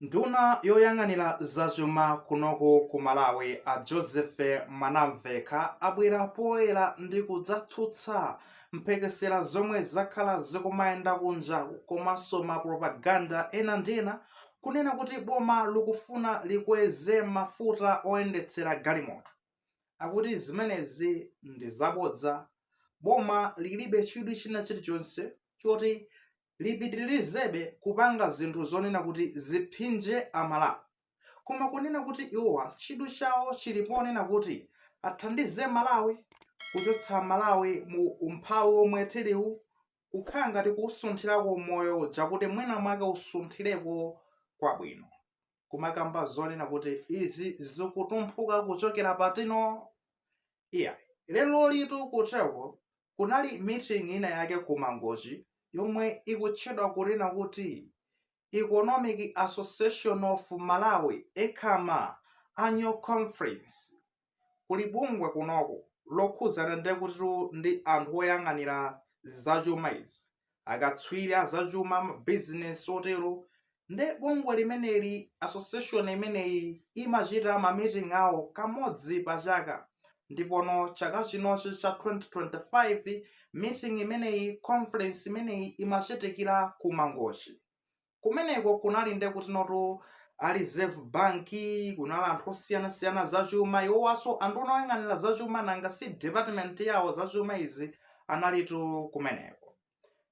Nduna yoyang'anira zachuma kunoku ku Malawi a Joseph Mwanamvekha abwera poyera ndi kudzatsutsa mphekesera zomwe zakhala zikumayenda kunja komanso ma propaganda ena ndi ena kunena kuti boma likufuna likweze mafuta oyendetsera galimoto. Akuti zimenezi ndi zabodza. Boma lilibe chidwi china chilichonse choti lipitirizebe kupanga zinthu zonena kuti ziphinje Amalawi. Koma kunena kuti iwowa chidwi chawo chili ponena kuti athandize Malawi, kuchotsa Malawi mu umphawi womwe tiliwu, kukhala ngati kuusunthirako moyo uja kuti mwinamwake usunthireko kwabwino, kumakamba zonena kuti izi zikutumphuka kuchokera pati no? Iyayi, lerolitu kuteko kunali meeting ina yake ku mangochi yomwe ikutchedwa kunena kuti economic association of malawi ecama annual conference kuli bungwe kunoko lokhuzana ndekutitu ndi anthu oyang'anira zachuma izi akatswiri azachuma mabizinesi otero nde bungwe limeneli association imeneyi imachita ma meeting awo kamodzi pa chaka ndipono chaka chinochi cha 2025 meeting imeneyi conference imeneyi imachitikira ku mangochi kumeneko kunali nde kutino tu a reserve bank kunali anthu osiyanasiyana zachuma iwowanso a nduna oyang'anira zachuma nanga si department yawo zachuma izi analitu kumeneko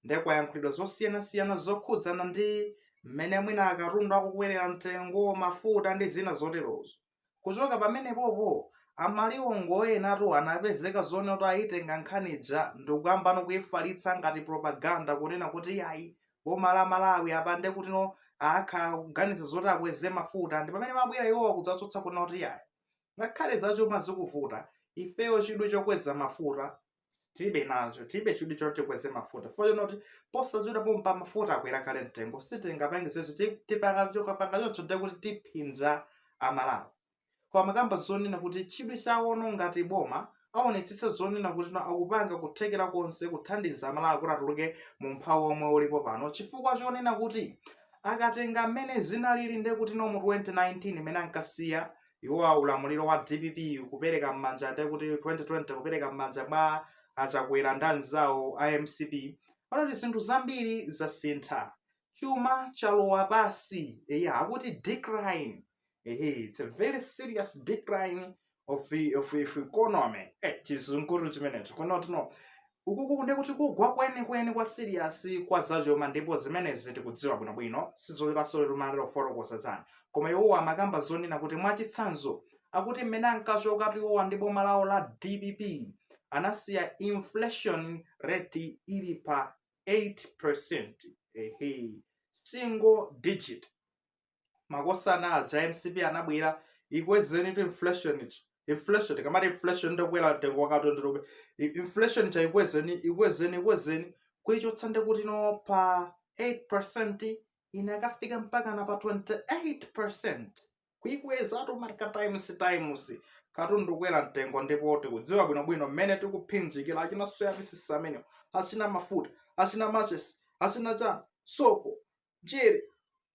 nde kwayankhulidwa zosiyanasiyana zokhudzana ndi mmene mwina akatundu akukwerera mtengo mafuta ndi zina zoterozo kuchoka pamenepopo amaliwongo enatu anapezeka zonena kuti ayitenga nkhani ija ndikuyambano kuyifalitsa ngati propaganda kunena kuti ayi boma la malawi apa nde kutino akhala akuganiza zoti akweze mafuta ndi pamene amabwera iwowa kudzatsutsa kunena kuti ayi ngakhale zachuma zikuvuta ifeyo chidwi chokweza mafuta tilibe nazo tilibe chidwi choti tikweze mafuta chifukwa chonena kuti posachedwa pompa mafuta akwera kale mtengo sitingapange izo tikapanga choncho ndiye kuti tiphinja amalawi koma amakamba zonena kuti chidwi chawono ngati boma aonetsetse zonena kutino akupanga kuthekera konse kuthandiza amalawi kuti atuluke mu umphawi omwe ulipo pano chifukwa chonena kuti akatenga mmene zinalili ndiye kutino mu 2019 mmene ankasiya iwowa ulamuliro wa dpp kupereka m'manja nde kuti 2020 kupereka m'manja mwa achakwera ndi anzawo a mcp akuti zinthu zambiri zasintha chuma chalowa pansi eya akuti decline ehe it's a very serious decline of, of, of economy eh, chizunguru chimenecho kutino Ukuku ndiye kuti kugwa kwenikweni kwa siriyasi kwa zachuma ndipo zimenezi tikudziwa bwinobwino, sizofunikanso tizinena kufotokoza chani. Koma iwowa amakamba zonena kuti mwachitsanzo, akuti mmene ankachokatu iwowa ndi boma lawo la dpp anasiya inflation rate ili pa 8%, ehe, single digit. makosana aja mcp anabwera ikwezeni tu inflation eti inflation tikamati inflation ndi kukwera mtengo wa katundu inflation ija ikwezeni ikwezeni ikwezeni kuichotsa ndekuti ina pa 8 inakafika mpaka na pa 28 kuikweza automatic times times katundu kwera mtengo ndipo tikudziwa bwinobwino mmene tikuphinjikira achina soya pieces amenewo achina mafuta achina matches achina chani sopo njere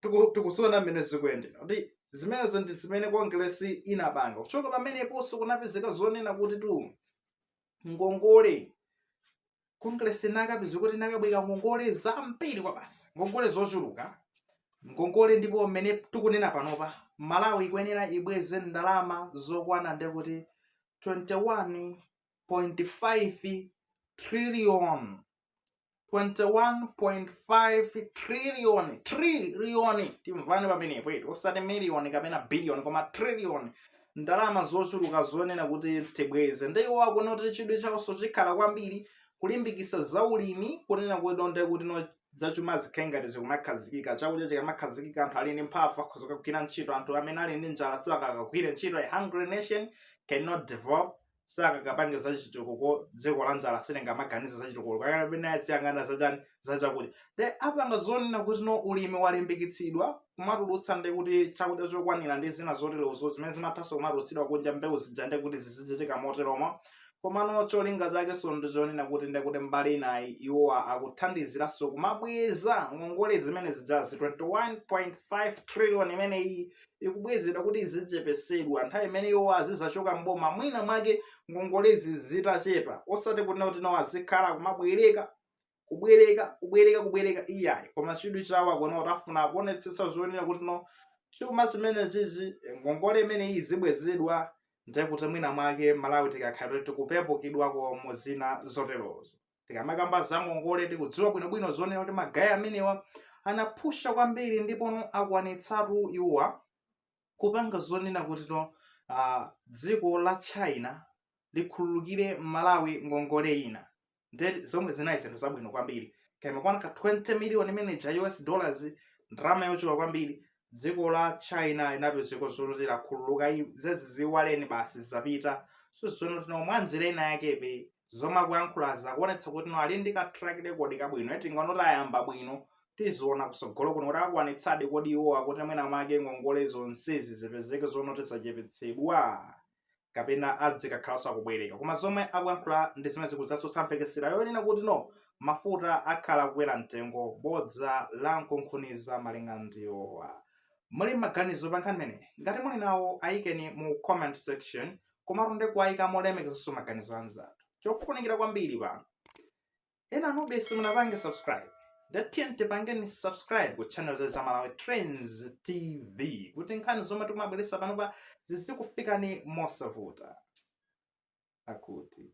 tiku- tikuziona mmene zikuyendera kuti zimenezo ndi zimene kongeresi inapanga kuchoka pameneponso kunapezeka zonena kuti tu ngongole kongeresi inakapezeka kuti inakabwereka ngongole zambiri kobasi ngongole zochuluka ngongole ndipo mmene tikunena panopa malawi ikuyenera ibweze ndalama zokwana ndi kuti 21.5 trillion 21.5 trillion trillion timvane pamenepo eti osati miliyoni kapena biliyoni koma trillion ndalama zochuluka zonena kuti tibweze nde iwo akuona kuti chidwi chawonso chikhala kwambiri kulimbikitsa zaulimi kunena kuti nde kuti no zachuma zikhale ngati zikumakhazikika chakudya chikamakhazikika anthu ali ndi mphamvu akhoza kugwira ntchito anthu amene ali ndi njala sangagwire ntchito a hungry nation cannot develop sangakapange za chitukuko dziko la njala silingamaganize za chitukuko kapena aziyang'ana za chani za chakudya nde apanga zonena kuti no ulimi walimbikitsidwa kumatulutsa ndi kuti chakudya chokwanira ndi zina zoterozo zimene zimathanso kumatulutsidwa kunja mbewu zija ndi kuti zizichitika moteromo komano cholinga chakenso ndi chonena kuti nde kuti mbali inayi iwowa akuthandiziranso kumabweza ngongole zimene zijazi 21.5 trillion imeneyi ikubwezedwa kuti izichepesedwa nthawi imene iwo azizachoka mboma mwina mwake ngongolezi zitachepa osati kunena kuti nawo azikhala kumabwereka kubwereka kubwereka kubwereka iyayi koma chidwi chawo akuona kuti afuna kuonetsetsa zonena kuti no chuma chimene chichi ngongole imeneyi izibwezedwa ndekuti mwina mwake malawi tikakhala kuti tikupepukidwako mu zina zoterozo tikamakamba za ngongole tikudziwa bwinobwino zonena kuti magaye amenewa anaphusha kwambiri ndipono akwanitsapo iwowa kupanga zonena kuti uh, dziko la china likhululukire malawi ngongole ina ndeti zomwe zinali zinthu zabwino kwambiri kaya imakwana ka 20 million imene ija us dollars ndalama yochuluka kwambiri dziko la china inapezeka zoti lakhululuka zaziiwaleni basi zapita so zoona tino mwanjira ina yake zomwe akuyankhulazi akuonetsa kuti no ali ndi ka track record kabwino eti ngano tayamba bwino tiziona kutsogolo kuno kuti akwanitsadi kodi iwowa akuti mwina mwake ngongole zonsezi zipezeke zonse zitachepetsedwa kapena adzikakhalanso akubwereka koma zomwe akuyankhula ndi zimene zikudzatsutsa mphekesera yonena kuti no mafuta akhala kukwera mtengo bodza la nkunkhuniza malinga ndiwowa muli maganizo pa nkhani imeneyi ngati muli nawo ayikeni mu comment section komatu ndi kuwayika molemekezanso maganizo anzathu chofunikira kwambiri panu enanu be simunapange subscribe ndati tiyeni tipangeni subscribe ku channel cha Za malawi trends tv kuti nkhani zomwe tikumabweresa panopa zizikufikani mosavuta akuti